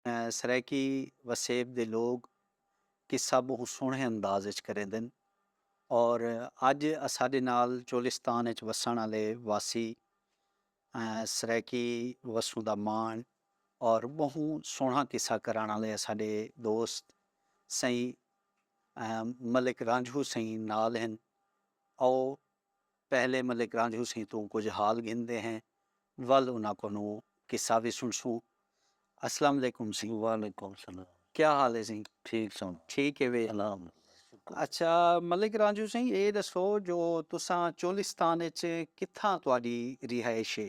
سرائیکی وسیب دے لوگ قصہ بہوں سوہنے انداز اچ کریندن اور اج اساڈے نال چولستان اچ وسنڑ آلے واسی سرائیکی وسوں دا مان اور بہوں سوہنا قصہ کرنڑ آلے اساڈے دوست سئیں ملک رانجھو سئیں نال ہن آؤ پہلے ملک رانجھو سیں توں کجھ حال گھندے ہیں ول انہاں کولوں قصہ وی سنڑسوں۔ اسلام علیکم سیں۔ وعلیکم السلام۔ کیا حال ہے سیں؟ ٹھیک سن۔ ٹھیک ہے وی۔ الحمد للہ۔ اچھا ملک رانجھو سیں اے ڈسو جو تساں چولستان اچ کتھاں تہاڈی رہائش ہے؟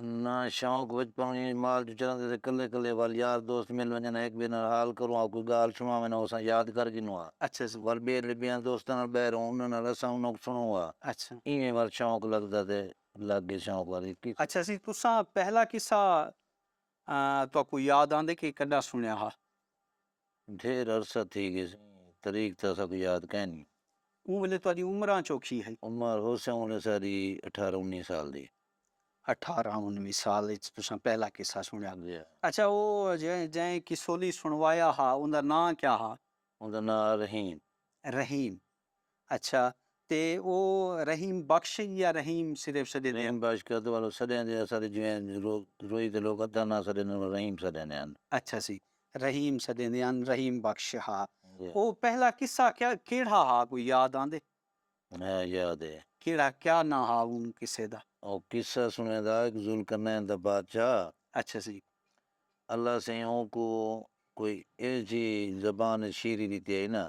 انہاں شوق وچ پاݨی وچ مال جو چراندے سے کلھے کلھے ول یار دوست مل ونڄن ہا ہک ٻئے نال حال کروں ہا کوئی ڳالھ سݨاون ہا اساں یاد کر گھنوں ہا ول ٻئے لے ٻیاں دوستاں نال ٻاہر ہوں انہاں نال اساں انہاں کوں سݨوں ہا ایویں ول شوق لڳدا تے لڳ ڳئے شوق ول ہک ہی اچھا سی تساں پہلا قصہ تہاکوں یاد آندے کہ کݙاں سݨیا ہا؟ ڈھیر عرصہ تھی گیسی تریخ تاں اساکوں یاد کائنی۔ اوں ویلے تہاڈی عمراں چوکھی ہئی؟ عمر ہوسی اوں ویلے اساڈی اٹھارہ انوی سال دی۔ اٹھارہ انوی سال اچ تساں پہلا قصہ سنڑیا۔ جی ہا۔ اچھا او جئیں قصولی سنڑوایا ہا اوندا ناں کیا ہا؟ اوندا ناں رحیم۔ رحیم۔ اچھا تے او رحیم بخش یا رحیم صرف سڈیندے ہن؟ رحیم بخش کد والوں سڈیندے اساڈے جویں روئی دے لوک ادھا ناں سڈیندے ہن رحیم سڈیندے ہن۔ اچھا سی رحیم سڈیندے ہن رحیم بخش ہا او پہلا قصہ کیڑھا ہا کوئی یاد آندے؟ ہاں یاد ہے۔ کیڑھا کیا ناں ہا اوں قصے دا؟ او قصہ سنڑیں دا ہک ذوالقرنین دا بادشاہ ہا۔ اچھا سی۔ اللہ سئیں اونکوں کوئی اہجی زبان اچ شیعری ڈتی ہئی ناں۔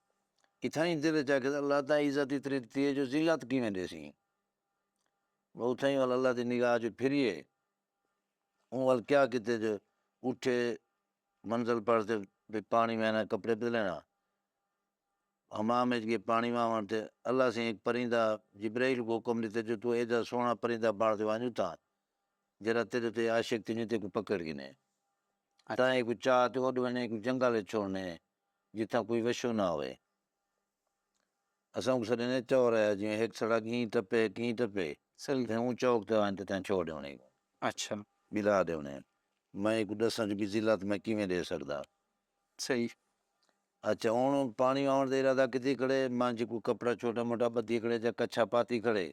اتھائیں دل اچ آکھیس اللہ تاں عزت اتنی ڈتی ہے جو ذلت کیویں ڈیسیں؟ وہ اتھائیں ول اللہ دی نگاہ جو پھریے اوں ول کیا کیتے جو اٹھے منزل پڑھ تے بھئی پانڑی وینا کپڑے بدلینا حمام اچ گئے پانڑی واونڑ تے اللہ سئیں ہک پرندہ جبرئیل کوں حکم ڈتے جو توں ایڈا سوہنڑا پرندہ بنڑ تے ونج اتھاں جیہڑا تیڈے تے عاشق تھینے تیکوں پکڑ گھنے تاں ایکوں چا تے اڈ ونے ایکوں جنگل اچ چھوڑنے۔ جتھاں کوئی وشو نہ ہووے۔ اساں اونکوں سݙیندے چورایا جیویں ہک سڑک ایں ٹپے ہک ایں ٹپے۔ سل تھے اوں چوک تے آئن تے تیں چھوڑ ݙیوݨیں کوں۔ اچھا۔ ٻلا ݙیوݨیں۔ میں اکوں ݙساں جو کہ ذلت میں کیویں ݙے سڳدا۔ صحیح۔ اچھا ہݨ او پاݨی آوݨ دا ارادہ کیتی کھڑے منجھ کوئی کپڑا چھوٹا موٹا ٻدھی کھڑے یا کچھا پاتی کھڑے۔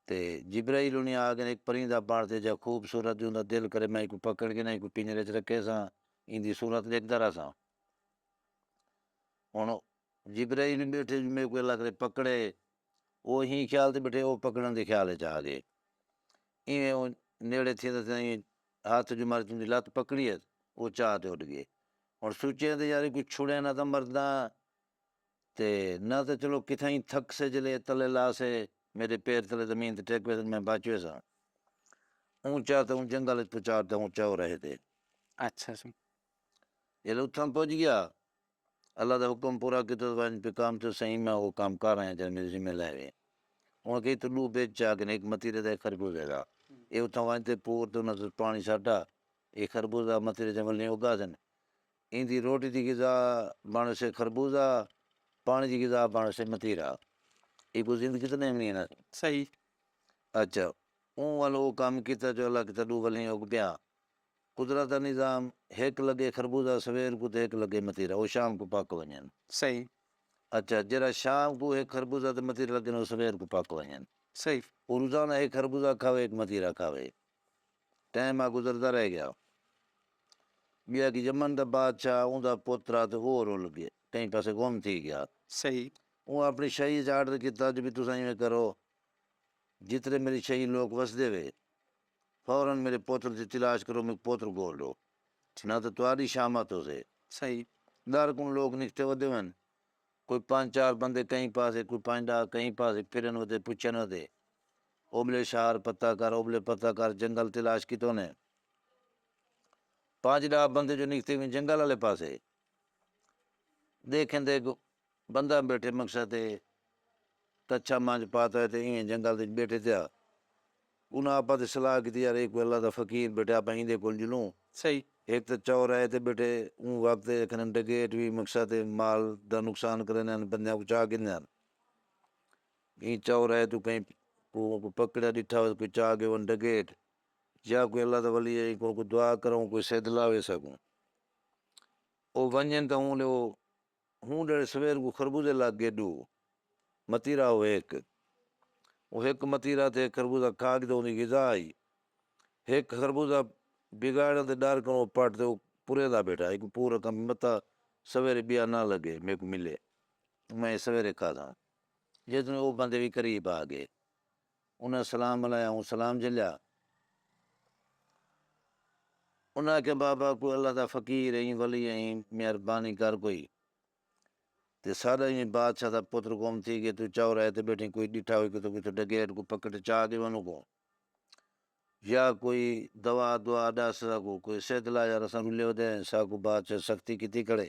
تے جبرائیل انھیں آکھن ہک پرندہ پڑھ تے جا خوبصورت جوں دا دل کرے میں اینکوں پکڑ کے نہ اینکوں پنجرے اچ رکھیساں ایندی صورت ݙیکھدا رہساں ہݨ جبرائیل ٻیٹھے جو میکوں اللہ کرے پکڑے او ایں خیال تے ٻیٹھے او پکڑݨ دے خیال اچ آڳئے ایویں او نیڑے تھیندے تھیندے ہتھ جو ماری توں دی لت پکڑی ہت او چا تے اݙ ڳئے ہݨ سوچئے تے یار اینکوں چھڑیاں نہ تاں مرداں تے نہ تاں چلو کتھائیں تھک سے جلے تلے لا سے میڈے پیر تلے زمین تے ٹک ویسن میں بچ ویساں اونچا تے اوں جنگل اچ پچار تے اونچا او رہے دے اچھا جی جلے اتھاں پج گیا اللہ دا حکم پورا کیتا تو ونج پہ کام تو سائیں میں او کام کر آیا جڑا میڈے ذمہ لے وے اوں کہی تو ڈو بیج چا گن ایک متیرے دا ایک خربوزے دا اے اتھاں ونج تے پور تے انہاں توں پانی سٹا اے خربوزہ متیرے جنگل نہیں اگا سن ایندی روٹی دی غذا بݨسے خربوزہ، پاݨی دی غذا بݨسے متیرا۔ ایکوں زند کیتے نئیں امنی ہݨا سی۔ صحیح۔ اچھا اوں ول او کم کیتا جو اللہ کیتا ݙو ولھیں اگ پیاں۔ قدرت دا نظام ہک لڳے خربوزہ سویر کوں تے ہک لڳے متیرا۔ او شام کوں پک ونڄن۔ صحیح۔ اچھا جیڑھا شام کوں ہک خربوزہ تے متیرا لڳن او سویر کوں پک ونڄن۔ صحیح۔ او روزانہ ہک خربوزہ کھاوے ہک متیرا کھاوے۔ ٹیم آ گزردا رہ گیا ٻیا کہ یمن دا بادشاہ اوندا پتر آ تے اوہ رل گئے کہیں پاسے گم تھی گیا۔ صحیح۔ اوں اپݨی شاہی اچ آرڈر کیتا جو بھئی تساں اینویں کرو جترے میݙی شاہی لوک وسدے وے فورا میݙے پتر دی تلاش کرو میک پتر گول ݙو نہ تے تہاݙی شامت ہوسے۔ صحیح۔ ݙر کوں لوک نکھتے ودے ون کوئی پنج چار بندے کہیں پاسے کوئی پنج ݙاہ کہیں پاسے پھرن ودے پچھن ودے۔ اوبلے شہر پتہ کر اوبلے پتہ کر جنگل تلاش کیتونے پنج ڈاہ بندے جو نکتے وی جنگل آلے پاسے دیکھن تے ہک بندہ بیٹھے مکشا تے کچھا منج پاتا ہوئے تے ایویں جنگل دے بیٹھے تھیا انہاں آپا تے صلاح کیتی یار اے کوئی اللہ دا فقیر بیٹھے آپا ایندے کول جلوں سہی ہک تے چور آئے تے بیٹھے اوں وقت اے کھنن ڈگیٹ وی مکشا تے مال دا نقصان کریندے ہن بندیاں کوں چا گھندے ہن ایں چور ہے توں کہیں کوں کوئی پکڑیا ڈٹھا ہوئے کوئی چاہ گے ون ڈگیٹ یا کوئی اللہ دا ولی ہے کوں کوئی دعا کروں کوئی سدھ لاوے سکوں او ونجن تاں اوں لے او ہوں ڈیڑھ سویر کو خربوزے لگ گے ڈو متیرا ہو ہک او ہک متیرا تے خربوزہ کھا کے توں دی غذا آئی ہک خربوزہ بگاڑن تے ڈر کروں پٹ تے او پورے دا بیٹھا ہے کوئی پورا کم متا سویرے بیا نہ لگے میکوں ملے میں سویرے کھا دا۔ جیتوں او بندے وی قریب آ گئے۔ انہاں سلام ملایا اوں سلام جھلیا۔ انہاں آکھیا بابا کوئی اللہ دا فقیر ایں ولی ایں مہربانی کر کوئی تے ساڈا ایویں بادشاہ دا پتر گم تھی گئے توں چوراہے تے بیٹھیں کوئی ڈٹھا ہوئی کتھوں کتھوں ڈکیٹ کوں پکڑ تے چا گئے انہاں کوں یا کوئی دوا دعا ڈس ساکوں کوئی صحت لا یار اساں رلے ودے ہیں ساکوں بادشاہ سختی کیتی کھڑے۔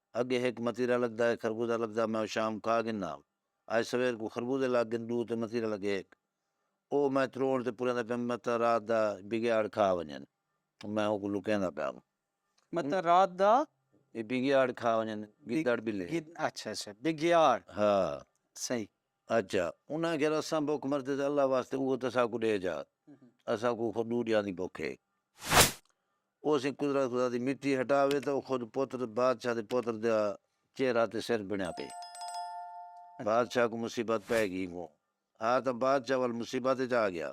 اگے ہک متیرا لگدا ہے خربوزہ لگدا میں او شام کھا گھننا اج سویر کوں خربوزے لگ گھن ڈو تے متیرا لگے ہک او میں تروڑ تے پریندا پیام متاں رات دا بگیاڑ کھا ونجن میں اوکوں لکیندا پیام۔ متاں رات دا۔ اے بگیاڑ کھا ونجن گدڑ بلے۔ اچھا اچھا بگیاڑ۔ ہا۔ صحیح۔ اچھا انہاں آکھیا اساں بکھ مردے تے اللہ واسطے اوہو تساکوں ڈے جا اساکوں خود ڈو ڈیاں دی بکھ ہے او سئیں قدرت خدا دی مٹی ہٹا وے تاں او خود پتر بادشاہ دے پتر دا چہرہ تے سر بݨیا پئے۔ بادشاہ کوں مصیبت پئے گی کوں ہا تاں بادشاہ ول مصیبت وچ آ گیا۔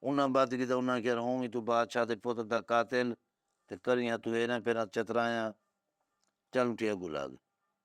انہاں بت کیتا انہاں آکھیا ہوں وی توں بادشاہ دے پتر دا قاتل تے کریاں توں ایرھاں پیرھاں چترایاں چل اٹھی اگوں لڳ۔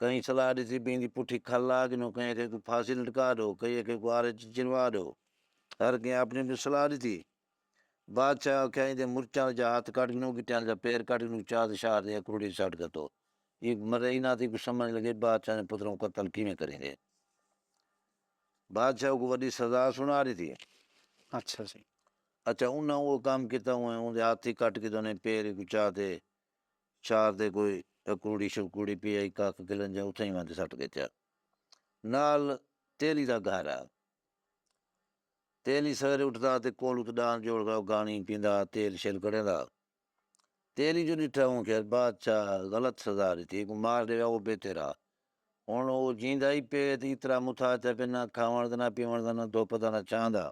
کہیں صلاح ݙتی بھئی ایندی پٹھی کھل لا ڳنو کئیں آکھیا کہ پھانسی لٹکا ݙو کئیں آکھیا کہ آرے تے چنوا ݙو ہر کئیں آپݨی آپݨی صلاح ݙتی بادشاہ آکھیا ایندے مرچاں دا جا ہتھ کٹ ڳنو گٹیاں دا جا پیر کٹ ڳنو چا تے شہر دی اکھوڑی تے سٹ گھتو ایک مرے ای ناں تھی کوں سمجھ لڳے بادشاہ دے پتراں کوں قتل کیویں کریندے بادشاہ کوں وݙی سزا سݨا ݙتی اچھا اچھا انہاں او کم کیتا اوندے ہتھ ای کٹ ڳدن پیر ای کوں چا تے چار دے کوئی اکوڑی شکوڑی پی آئی کاک گلن جا اتھاں ہی وندے سٹ گھتیا نال تیلی دا گھر آ تیلی سویرے اٹھدا تے کول ات ڈان جوڑ گا گانی پیندا تیل شیل کڑیندا تیلی جو ڈٹھا اوں کھیا بادشاہ غلط سزا ڈتی کو مار ڈے او بے تیرا ہن او جیندا ہی پے تے اترا متھا چا پے نہ کھاون دا نہ پیون دا نہ دھوپ دا نہ چھاں دا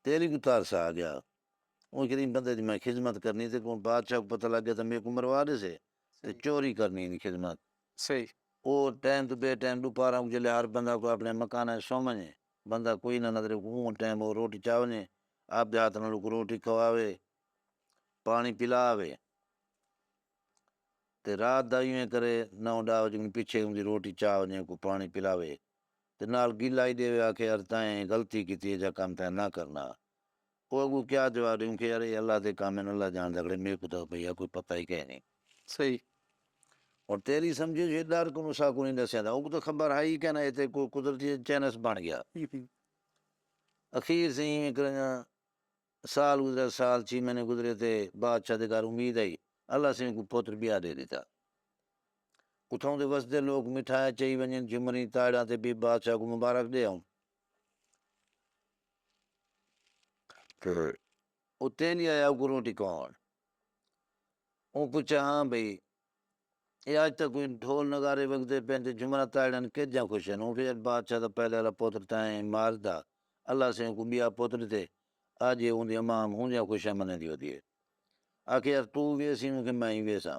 تیلی کو ترس آ گیا۔ اوں غریب بندے دی میں خدمت کرنی تے کوں بادشاہ کوں پتہ لگ گیا تاں میکوں مروا ݙیسے تے چوری کرنی اینی خدمت۔ صحیح۔ او ٹائم توں بے ٹائم ݙوپہراں کوں جیلے ہر بندہ کوئی آپݨے مکاناں اچ سم ونڄے بندہ کوئی نہ نظرے کوں اوں ٹائم او روٹی چا ونڄے آپدے ہتھ نال اوکوں روٹی کھواوے پاݨی پلا وے تے رات دا ایویں کرے نو ݙاہ وڄے کوں پچھے اوندی روٹی چا ونڄے اوکوں پاݨی پلاوے تے نال گلہ ای ݙیوے آکھے یار تئیں غلطی کیتی ایجھا کم تئیں نہ کرݨا او اگوں کیا جواب ڈیوں کہ یار اے اللہ دے کم ہن اللہ جاندا کھڑے میکوں تاں بھئی اے کوئی پتہ ہی کئے نی۔ صحیح۔ ہن تیری سمجھے جے ڈر کنوں ساکوں نی ڈسیا تاں اوکوں تاں خبر ہئی کئے نہ اے تاں کوئی قدرتی چینس بن گیا۔ اخیر سئیں ایویں کرنگاں سال گزریا سال چھی مہینے گزرے تے بادشاہ دے گھر امید آئی اللہ سئیں اونکوں پتر بیا ڈے ڈتا۔ اتھاؤں دے وسدے لوک مٹھایاں چئی ونجن جھمریں تائڑاں تے بی بادشاہ کوں مبارک ڈے آؤں۔ اتیں نہیں آیا اگروں ٹکاؤن اوں پچھا ہاں بھئی اے آج تاں کوئی ڈھول نغارے وگدے پئین تے جھمرا تاڑن کیجھا خوش ہن اوں پچھا بادشاہ دا پہلے والا پتر تاں ایں مار دا اللہ سے اونکوں بیا پتر ڈتے آج اے اوندی اماں ہم ہونجھا خوشاں منیندی ودی اے آکھے یار توں ویسی اوں کہ میں ہی ویساں۔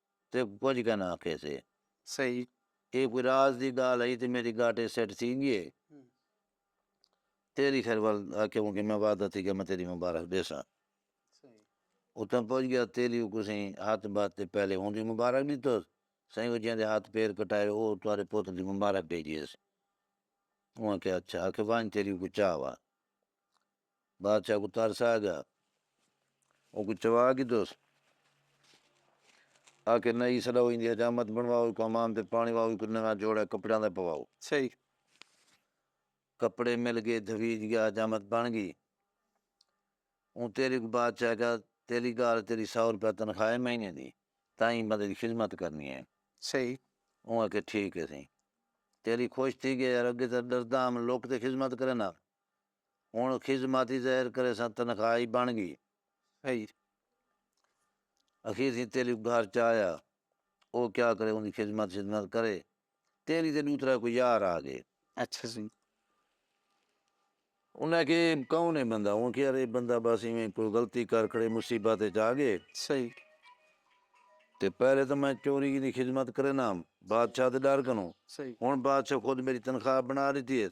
تے کجھ کن آکھیسے۔ صحیح۔ اے کوئی راز دی گالھ ہئی تے میڈی گاٹے سیٹ تھی گیے۔ تیڈی خیر ول آکھیا ہوں کہ میں وعدہ تھی گیا میں تیڈی مبارخ ڈیساں۔ اتھاں پہنچ گیا تیڈی او کسیں ہتھ باتھ تے پہلے ہوں دی مبارخ ڈیتوس۔ سائیں او جیندے ہتھ پیر کٹائے او تہاڈے پوت دی مبارخ ڈیجیس۔ اوں آکھیا اچھا آکھیا ونج تیڈی کوئی چاہ وا۔ بادشاہ کوں ترس آ گیا اوکوں چوا گھدوس آکھے نہ ای سݙاؤ ایندی حجامت بݨواؤ ایکوں حمام تے پاݨی واؤ ایکوں نواں جوڑا کپڑیاں دا پواؤ۔ صحیح۔ کپڑے مل ڳئے دھویج ڳیا حجامت بݨ ڳئی اوں تیݙی کوں بادشاہ آکھیا تیݙی ڳالھ تیݙی سو روپیہ تنخواہ ہے مہینے دی تاں ایں بندے دی خذمت کرݨی ہے۔ صحیح۔ اوں آکھیا ٹھیک ہے سئیں تیݙی خوش تھی ڳئی یار اڳے تاں ݙرداں ہم لک تے خذمت کرینداں ہنڑ خذماتی زہر کریساں تنخواہ ای بنڑ گی ہئی اخیر تھیں تیلی گھر چا آیا او کیا کرے اوندی خذمت شذمت کرے تیلی تے ڈو ترے کوئی یار آ گئے اچھا جی انہاں آکھے اے کون اے بندہ اوں آکھے یار اے بندہ بس ایویں کوئی غلطی کر کھڑے مصیبت اچ آ گئے صحیح تے پہلے تاں میں چوری دی خذمت کرینا ہم بادشاہ دے ڈر کنوں صحیح ہنڑ بادشاہ خود میڈی تنخواہ بنڑا ڈتی ہیس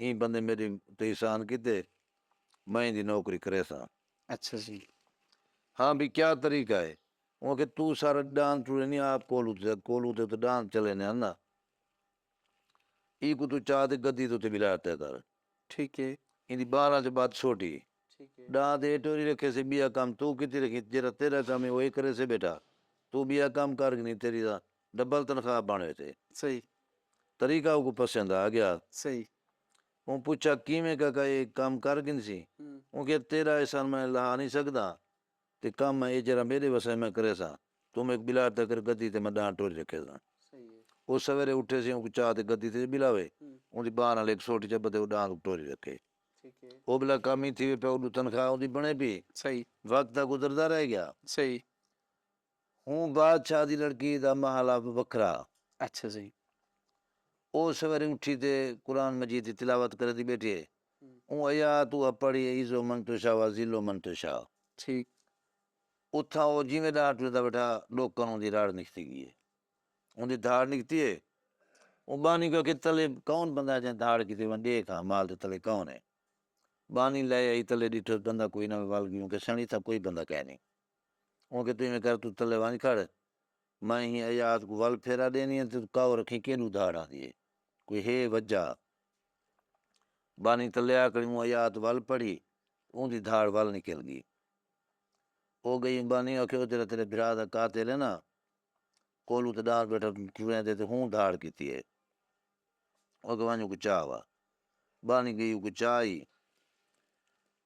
ایں بندے میڈے تے احسان کیتے میں ایندی نوکری کریساں۔ اچھا جی۔ ہاں بھئی کیا طریقہ ہے؟ اوں آکھیا توں سارا ڈان ٹرے نی آپ کولو تے کولو تے اتھے ڈان چلے نے ہنا ایکوں توں چا تے گدی تے اتھے بلا تے کر۔ ٹھیک ہے۔ ایندی باراں چ بات سوٹی ہے۔ ٹھیک ہے۔ ڈان تے ایٹو نی رکھے سے بیا کم توں کیتی رکھیں جیرا تیرا کم ہے او اے کریسے بیٹھا توں بیا کم کر گنی تیری دا ڈبل تنخواہ بنڑ ویسے۔ صحیح۔ طریقہ اوکوں پسند آ گیا۔ صحیح۔ اوں پچھا کیویں کاکا اے کم کر گھنسی؟ اوں کہیا تیڈا احسان میں لہا نی سگدا تے کم میں اے جیڈا میڈے وسے میں کریساں توں میکوں بلا تے کر گدی تے میں ڈانڑ ٹوری رکھیساں۔ او سویرے اٹھیسی اونکوں چا تے گدی تے بلاوے اوندی بانہہ نال ہک سوٹی چا بدھے او ڈانڑ اونکوں ٹوری رکھے۔ او بلا کم ای تھیوے پیا اڈوں تنخواہ اوندی بنڑے پی۔ وقت تاں گزردا رہ گیا۔ اوں بادشاہ دی لڑکی دا محل اب وکھرا ہا۔ اچھا جی۔ او سویرے اٹھی تے قرآن مجید دی تلاوت کریندی بیٹھی ہئی۔ اوں ایات اوہا پڑھی اے عز من تشاء و اذل من تشاء۔ ٹھیک۔ اتھاں او جیویں ڈاہ ٹریندا بیٹھا ڈوکن اوندی راڑ نکھتی گی اے۔ اوندی دھاڑ نکھتی اے۔ اوں بانی کوں آکھیا تلے کون بندہ ہے جئیں دھاڑ کیتی ونج ڈیکھ ہاں مال دے تلے کون اے۔ بانی لے آئی تلے ڈٹھس بندہ کوئی نہ ول گی اوں کہیا سیاݨی اتھاں کوئی بندہ کائنی۔ اوں کیتے ایویں کر توں تلے ونج کھڑ میں ایں ایات کوں ول پھیرا ڈینی اے توں کاؤ رکھیں کیڈوں دھاڑ آندی اے کوئی ہے وجہ بانی تلے آکڑی اوں ایات ول پڑھی اوں دی دھاڑ ول نکل گی او گئی بانی آکھے او جیرا تیرے بھرا دا قاتل اے نا کولو تے ڈار بیٹھا ٹرے دے تے ہوں دھاڑ کیتی اے او کہ ونج کوں چا وا بانی گئی او کوں چا ای۔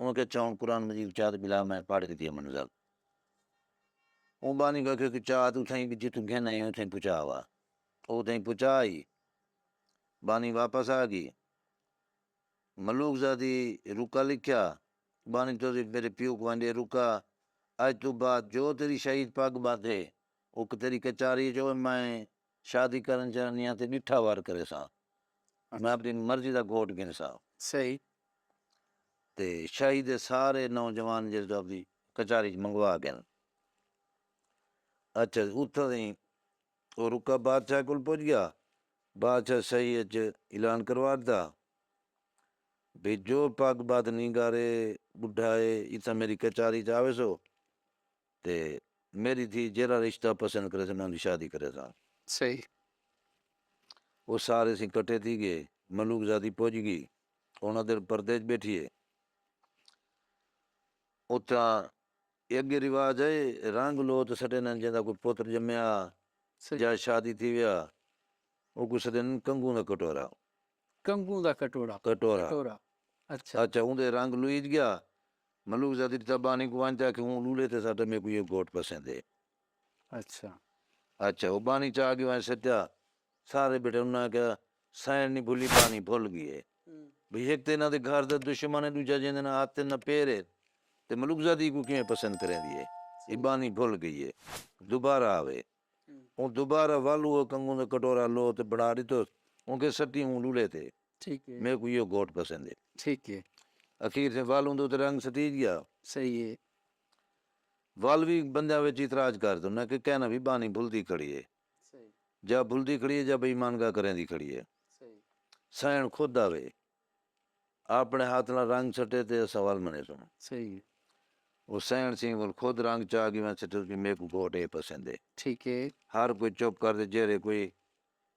اوں آکھیا چاہوں قرآن مجید کوں چا تے پلا میں پڑھ گھدی اماں نوں ذل اوں بانی کوں آکھیا کہ چا توں اتھاں ہی جتھوں گھن آئے اتھاں ہی پہنچا وا او اتھاں ہی پہنچا آئی بانی واپس آ گئی ملوک زادی رکا لکھیا بانی تو ذی میرے پیو کوں آندے رکا اج توں بعد جو تیری شہید پگ بندھ ہے او تیری کچاری جو میں شادی کرݨ چاہندیاں تے ݙٹھا وار کریساں۔ میں اپݨی مرضی دا گھوٹ گھنساں۔ صحیح۔ تے شاہی دے سارے نوجوان جیڑھے جو اپݨی کچاری اچ منگوا ڳن۔ اچھا جی اتھاں تئیں او رکا بادشاہ کول پڄ ڳیا۔ بادشاہ شاہی اچ اعلان کروا ݙتا بھئی جو پڳ ٻدھ نینگار اے، ٻڈھا اے اتھاں میݙی کچاری اچ آویسو۔ تے میݙی دھی جیرھا رشتہ پسند کریسے میں اوندی شادی کریساں۔ صحیح۔ او سارے سیں کٹھے تھی ڳئے۔ ملوک زادی پڄ ڳی۔ ہݨ ادھر پردے اچ ٻیٹھی ہے۔ اتھاں اڳے رواج ہے رنگ لوت سݙیندن جیندا کوئی پتر ڄمیا یا شادی تھی ویا او کوں سݙیندن کنگوں دا کٹورا۔ کنگوں دا کٹورا کٹورا کٹورا اچھا اچھا اوں دے رنگ لویج گیا ملوک زادی دی تابانی کوں ونج تے آکھے اوں لولے تے ساٹے میکوں یہ گھوٹ پسند ہے اچھا اچھا او بانی چا گی ونج سٹیا سارے بیٹھے انہاں آکھیا سائن نی بھلی بانی بھل گی ہے بھئی ہک تے انہاں دے گھر دا دشمن ہے ڈوجھا جیندے نہ ہتھ تے نہ پیر ہے تے ملوک زادی کوں کیویں پسند کریندی ہے اے بانی بھل گئی ہے دوبارہ آوے اوں دوبارہ ول اوہو کنگوں دا کٹورا لو تے بنا ڈتوس اونکے سٹی اوں لولے تے میکوں ایہو گھوٹ پسند ہے۔ ٹھیک ہے۔ اخیر تھیں ول اوندے اتے رنگ سٹیج گیا۔ صحیح ہے۔ ول وی بندیاں وچ اعتراض کر دو نہ کہ کہنا وی بانی بھلدی کھڑی ہے۔ صحیح۔ جا بھلدی کھڑی ہے جا بے ایمان گا کریندی کھڑی ہے۔ صحیح۔ سہن خود دا وے۔ آپنڑے ہتھ نال رنگ سٹے تے اساں ول منیسوں۔ صحیح ہے۔ او سینڑ سنگھ کول خود رنگ چا گی ونج سٹیس کہ میکوں گھوٹ اے پسند ہے۔ ٹھیک ہے۔ ہر کوئی چپ کر تے جیرھے کوئی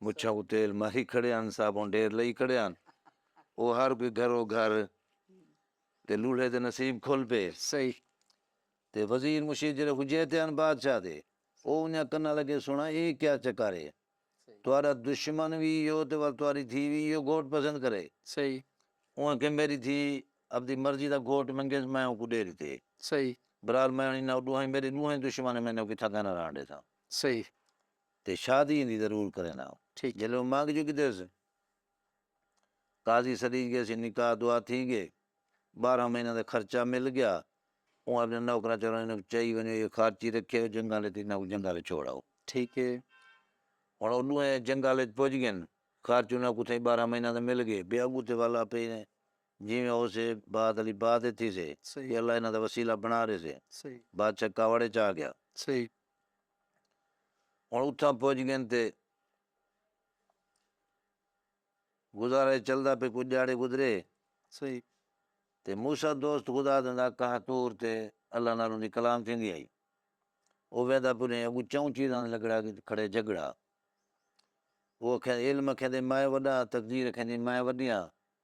مچھاں کوں تیل ماری کھڑے ہن صابن ڈھیر لئی کھڑے ہن او ہر کوئی گھرو گھر تے لولھے دے نصیب کھل پے۔ صحیح۔ تے وزیر مشیر جیرھے کوں جیتے ہن بادشاہ دے او انہاں کناں لگے سنڑاں اے کیا چکر ہے۔ تہاݙا دشمن وی ایہو تے ول تہاݙی دھی وی ایہو گھوٹ پسند کرے۔ صحیح۔ اوہ کہ میݙی دھی اپݙی مرضی دا گھوٹ منگیس میں اوکوں ݙے ݙتے۔ صحیح۔ برحال میں ہݨی نہ ݙوہائیں میݙے ݙوہیں دشمن میݙے نال کتھاں کائے نہ رہݨ ݙیساں۔ صحیح۔ تے شادی ایندی ضرور کرینداں۔ ٹھیک۔ جیلھے اوہ منگ چکیدیس۔ قاضی سݙی ڳئے سی نکاح دعا تھی ڳئے ٻارہاں مہیناں دا خرچہ مل ڳیا اوں آپݨے نوکراں چوراں انہاں کوں چائی ونڄو اے خارچی رکھیو جنگاں لے تے انہاں کوں جنگاں لے چھوڑ آؤ ٹھیک اے ہݨ او ݙوہیں جنگاں لے پڄ ڳن خرچ انہاں کوں تھئیں ٻارہاں مہیناں دا مل ڳئے ٻئے اڳوں تے ول آپے جیویں ہوسے بعد آلی بعد اے تھیسے صحیح اللہ انہاں دا وسیلہ بݨا ݙیسے صحیح بادشاہ کاوڑ اچ آ ڳیا صحیح ہݨ اتھاں پڄ ڳن تے گزارا اے چلدا پئے کجھ ڈیہاڑے گزرے۔ صحیح۔ تے موسی دوست خدا دے نال کہا طور تے اللہ نال اوندی کلام تھیندی ہئی۔ او ویندہ پلیں اگوں چئوں چیزاں دے لگڑا کھڑے جھگڑا۔ او اکھیندے علم اکھیندے مائے وڈا تقدیر اکھیندی مائے وڈیاں۔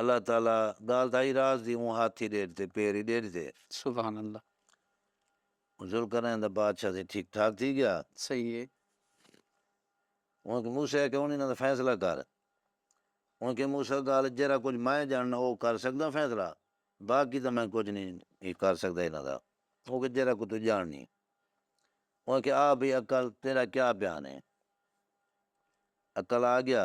اللہ تعالی ڳالھ تاں ہئی راز دی اوں ہاتھ ای ݙیڈھ تے پیر ای ݙیڈھ تے۔ سبحان اللہ۔ ذوالقرنین دا بادشاہ تھے ٹھیک ٹھاک تھی ڳیا۔ صحیح ہے۔ اوں کوں موسی آکھیا ہن انہاں دا فیصلہ کر۔ اوں کیا موسی ڳالھ جیرھا کجھ میں ڄاݨنا او کر سڳداں فیصلہ باقی تاں میں کجھ نی کر سڳدا انہاں دا۔ اوں کیا جیرھا کجھ توں ڄاݨنی۔ اوں کیا آ بھئی عقل تیݙا کیا بیان ہے۔ عقل آ ڳیا۔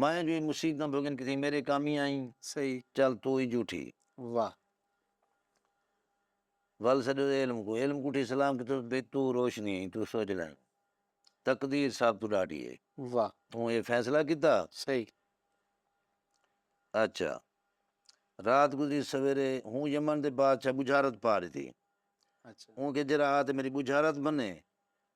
مائیں جو اے مصیبتاں بھگن کیتھیں میݙے کامی آئیں صحیح۔ چل توں ای جھوٹھی۔ واہ۔ ول سݙو اے علم کوں علم کوں اٹھی سلام کیتھس بھئی توں روشنی ہیں توں سوچ لیں تقدیر سب توں ݙاڈھی ہے واہ۔ توں اے فیصلہ کیتا۔ صحیح۔ اچھا رات گزری سویرے ہوں یمن دے بادشاہ بجھارت پا ݙتی اچھا۔ اوں کہیس جیڑھا آ تے میݙی بجھارت بھنے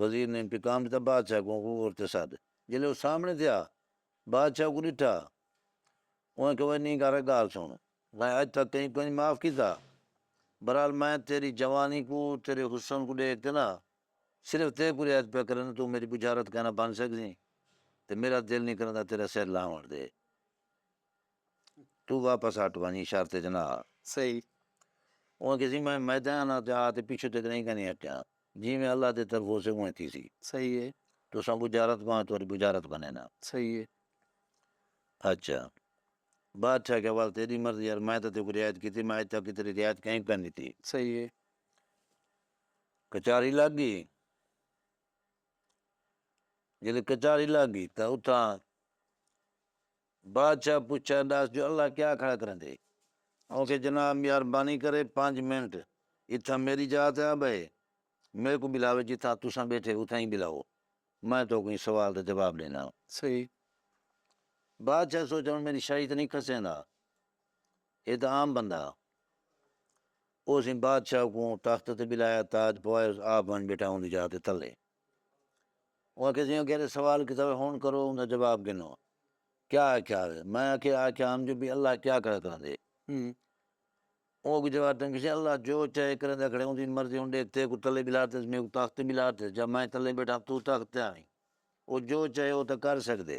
وزیر نے پیغام ݙتا بادشاہ کوں غور تے سݙ۔ جیلے او سامݨے تھیا بادشاہ کوں ݙٹھا۔ اوں آکھیا وے نینگار ہک ڳالھ سݨ۔ میں اڄ تک کہیں کوں انڄ معاف کیتا۔ برحال میں تیݙی جوانی کوں تیݙے حسن کوں ݙیکھ تے نہ صرف تیکوں رعایت پیا کرینداں توں میݙی ٻجھارت کائناں بݨ سڳسیں تے میݙا دل نی کریندا تیݙا سر لہوݨ دے۔ توں واپس ہٹ ونڄ شرط جناح صحیح۔ اوہ کہسی میں میدان آ جا تے پچھوں تیکوں نہیں کہیں ہٹیاں جیویں اللہ دی طرف ہوسے اونویں تھیسی صحیح ہے۔ تساں بجارت بھاویں تہاݙی بجارت بنینا۔ صحیح ہے۔ اچھا بادشاہ آکھیا ول تیݙی مرضی یار میں تاں تیکوں رعایت کیتی میں اڄ تک تیݙی رعایت کہیں کوں کائنی ݙتی۔ صحیح ہے۔ کچہری لڳ ڳئی ڄݙاں کچہری لڳ ڳئی تاں اتھاں بادشاہ پچھیا ڈس جو اللہ کیا کھڑا کریندے؟ اوکھے جناب میاربانی کرے پنج منٹ اتھاں میری جاہ تے آ بہے میکوں بلاوے جتھاں تساں بیٹھے اتھاں ای بلاؤ میں توکوں ایں سوال دا جواب ڈینا۔ صحیح۔ بادشاہ سوچیا ہن میری شاہی تے نئیں کھسیندا اے تاں عام بندہ ہا۔ اوسیں بادشاہ کوں تخت تے بلایا تاج پوائے آپ ونج بیٹھا اوندی جاہ تے تلے۔ او آکھیا جیہاں کیرے سوال کیتا وے ہنڑ کرو اوندا جواب گھنو کیا آکھیا وے میں آکھیا آکھیا ہم جو بھئی اللہ کیا کھڑا کریندے او اگوں جواب تئیں گھنسے اللہ جو چاہے کریندا کھڑے اوندی مرضی ہن ڈیکھ تیکوں تلے بلا تے میکوں تخت تے بلا تے جاں میں تلے بیٹھاں توں تخت تے آویں او جو چاہے او تاں کر سگدے۔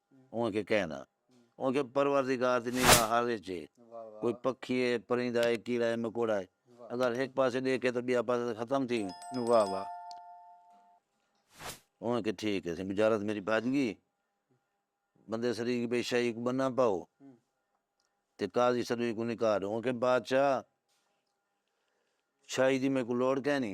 اوہ کہ کہیں دا۔ اوہ کہ پروردگار دی نگاہ ہر ہچ ہے۔ کوئی پکھی ہے، پرندہ ہے، کیڑا ہے، مکوڑا ہے۔ اگر ہک پاسے ڈیکھے تاں بیا پاسے تاں ختم تھی ویندے۔ اوہ کہ ٹھیک ہے، بجارت میڈی بھج گئی۔ بندے سدی گی بھئی شاہی کوں بننا پاؤ۔ تے قاضی سدی کوں نکال۔ اوہ کہ بادشاہ شاہی دی میکوں لوڑ کینی۔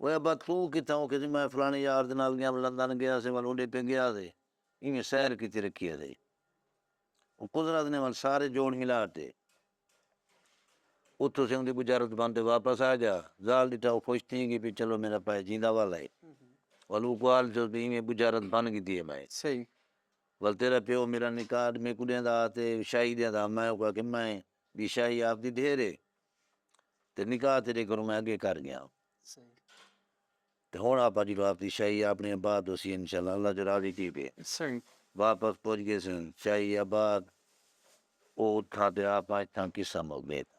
اوئے ابا توں کتھاں؟ او کھیسی میں فلاݨے یار دے نال ڳیاں لندن ڳیا ہسے ول اوݙے پئے ڳیا ہسے ایویں سیر کیتی رکھی ہسے او قدرت نے ول سارے جوڑ ملا تے اتھوں سے اوندی بجارت بن تے واپس آ گیا ذال ݙٹھا او خوش تھی ڳی پئی چلو میݙا پائے جیندا والا ہے ول او گوال تھیوس پئی ایویں بجارت بن ڳدی ہے میں ول تیݙا پیو میݙا نکاح میکوں ݙیندا ہا تے شاہی ݙیندا ہا میں اوکوں آکھیا میں ٻی شاہی آپدی ڈھیر ہے تے نکاح تیݙے کنوں میں اڳے کر ڳیاں تے ہݨ آپا جی واپسی شاہی آپݨے ابا توں اسی انشاء اللہ اللہ جو راضی تھی ڳئے واپس پڄ ڳیسوں شاہی ابا او اتھاں تے آپا اتھاں قصہ مک ڳئے تاں۔